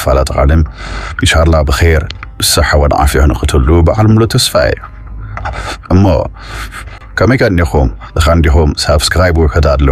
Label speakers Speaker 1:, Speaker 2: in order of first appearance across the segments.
Speaker 1: ክፋላ ተቃልም ኢንሻላ ብኸይር ብሰሓ ወን ዓፍያ ንክትሉ በዓል ሙሉ ተስፋ እዩ እሞ ከመይ ከኒኹም እኻ እንዲኹም ሳብስክራይብ ውሕድ ኣሎ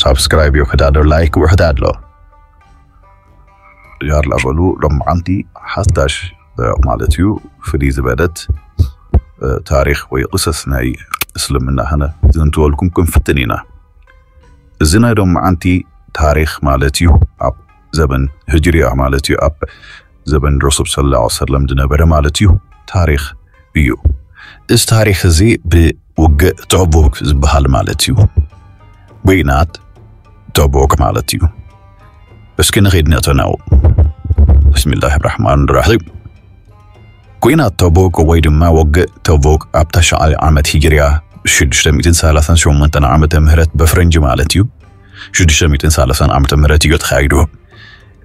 Speaker 1: ሳብስክራይብ ውሕድ ኣሎ ላይክ ውሕድ ኣሎ ያላ በሉ ሎማዓንቲ ሓዳሽ ማለት እዩ ፍልይ ዝበለት ታሪክ ወይ ቅሰስ ናይ እስልምና ህነ ዝንትወልኩም ክንፍትን ኢና እዚ ናይ ሎማዓንቲ ታሪክ ማለት እዩ ኣብ ዘበን ህጅርያ ማለት እዩ ኣብ ዘበን ረሱል ሰለላሁ ዐለይሂ ወሰለም ዝነበረ ማለት እዩ ታሪኽ እዩ። እዚ ታሪኽ እዚ ብውግእ ተቡክ ዝበሃል ማለት እዩ ጒናት ተቡክ ማለት እዩ። እስኪ ንኺድ ነተናው ብስሚላህ ራሕማን ራሒም ኲናት ተቡክ ወይ ድማ ወግእ ተቡክ ኣብ ተሽዓይ ዓመት ሂጅርያ 638 ዓመተ ምህረት በፍረንጂ ማለት እዩ 630 ዓመተ ምህረት እዩ ተኻይዱ።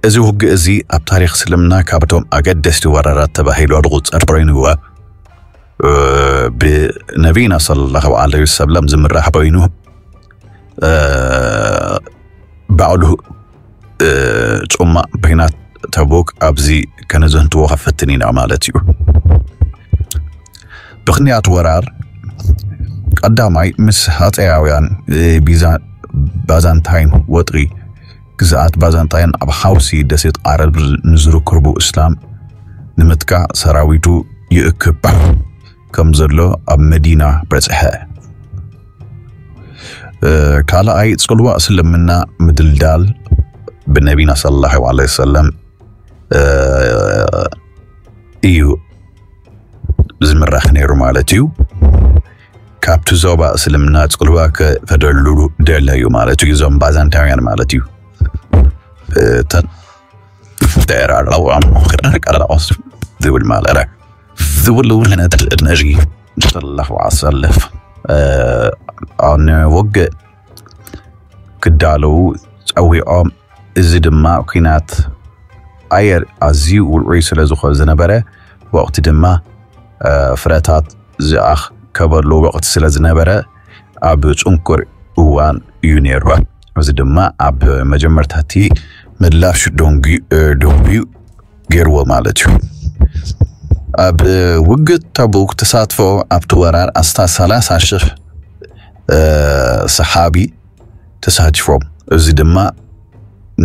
Speaker 1: እዚ ውግእ እዚ ኣብ ታሪኽ እስልምና ካብቶም ኣገደስቲ ወራራት ተባሂሉ ዝቑጸር ኮይኑ ብነቢና ሰለላሁ ዐለይሂ ወሰለም ዝምራሕ ኮይኑ ባዕሉ ጹማእ በይናት ተቡክ ኣብዚ ከነዘንትዎ ከፈትን ኢና ማለት እዩ ምክንያት ወራር ቀዳማይ ምስ ሃፀያውያን ባዛንታይን ወጥሪ ግዝኣት ባዛንጣይን ኣብ ሓውሲ ደሴት ዓረብ ንዝርክቡ እስላም ንምጥቃዕ ሰራዊቱ ይእክብ ከም ዘሎ ኣብ መዲና በጽሐ። ካልኣይ ጽልዋ እስልምና ምድልዳል ብነቢና ሰለላሁ ዐለይሂ ወሰለም እዩ ዝምራሕ ነይሩ ማለት እዩ። ካብቲ ዞባ እስልምና ጽልዋ ክፈደሉ ደለዩ ማለት እዩ እዞም ባዛንታውያን ማለት እዩ ተራራዋም ቀረቆስ ዝብል ማለረ ዝብሉ ነቲ ነዚ ተሰለፉ ኣሰልፍ ንውግእ ክዳለዉ ጸዊዖም እዚ ድማ ኩናት ኣየር ኣዝዩ ውዑይ ስለ ዝኾ ዝነበረ ወቕቲ ድማ ፍረታት ዝኣከበሉ ወቕቲ ስለ ዝነበረ ኣብ ጽንኩር እዋን እዩ ነይሩ። እዚ ድማ ኣብ መጀመርታ እቲ ምላሽ ደንጉ ደንጉዩ ገይርዎ ማለት እዩ። ኣብ ውግእ ተቡክ ተሳትፎ ኣብቲ ወራር ኣስታት ሰላሳ ሽሕ ሰሓቢ ተሳቲፎም። እዚ ድማ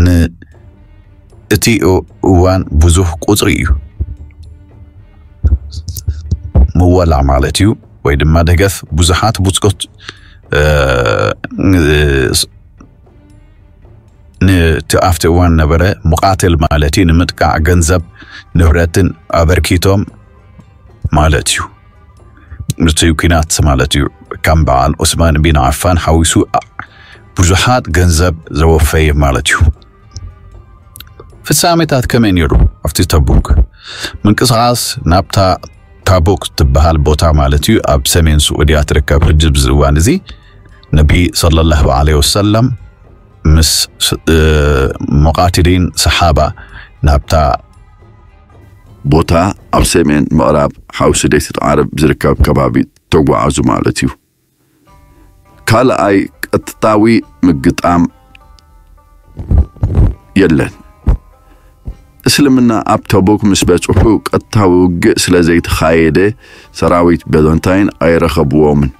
Speaker 1: ንእቲ እዋን ብዙህ ቁፅሪ እዩ። ምወላ ማለት እዩ ወይ ድማ ደገፍ ብዙሓት ብፆት ንቲ ኣብቲ እዋን ነበረ ሙቃትል ማለት እዩ ንምጥቃዕ ገንዘብ ንብረትን ኣበርኪቶም ማለት እዩ። እቲ ኩናት ማለት እዩ ከም በዓል ዑስማን ቢን ዓፋን ሓዊሱ ብዙሓት ገንዘብ ዘወፈየ ማለት እዩ ፍጻሜታት ከመይ ነይሩ ኣብቲ ተቡክ ምንቅስቓስ ናብታ ታቡክ ትበሃል ቦታ ማለት እዩ ኣብ ሰሜን ስዑድያ ትርከብ ሕጂ ብዚ እዋን እዚ ነቢ صለ ላሁ ለ ወሰለም ምስ መቃትሊን ሰሓባ ናብታ
Speaker 2: ቦታ ኣብ ሰሜን ምዕራብ ሓውሲ ደሴት ዓረብ ዝርከብ ከባቢ ተጓዓዙ ማለት እዩ። ካልኣይ ቀጥታዊ ምግጣም የለን። እስልምና ኣብ ተቡክ ምስ በጽሑ ቀጥታዊ ውግእ ስለ ዘይተኻየደ ሰራዊት በዘንታይን ኣይረኸብዎምን።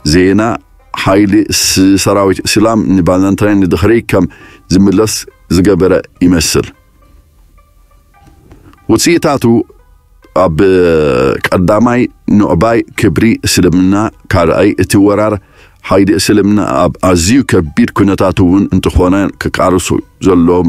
Speaker 2: ዜና ሓይሊ ሰራዊት እስላም ንባዛንታይን ንድሕሪ ከም ዝምለስ ዝገበረ ይመስል። ውፅኢታቱ ኣብ ቀዳማይ ኑዕባይ ክብሪ እስልምና ካልኣይ እቲ ወራር ሓይሊ እስልምና ኣብ ኣዝዩ ከቢድ ኩነታት እውን እንተኾነ ክቃርሱ ዘለዎም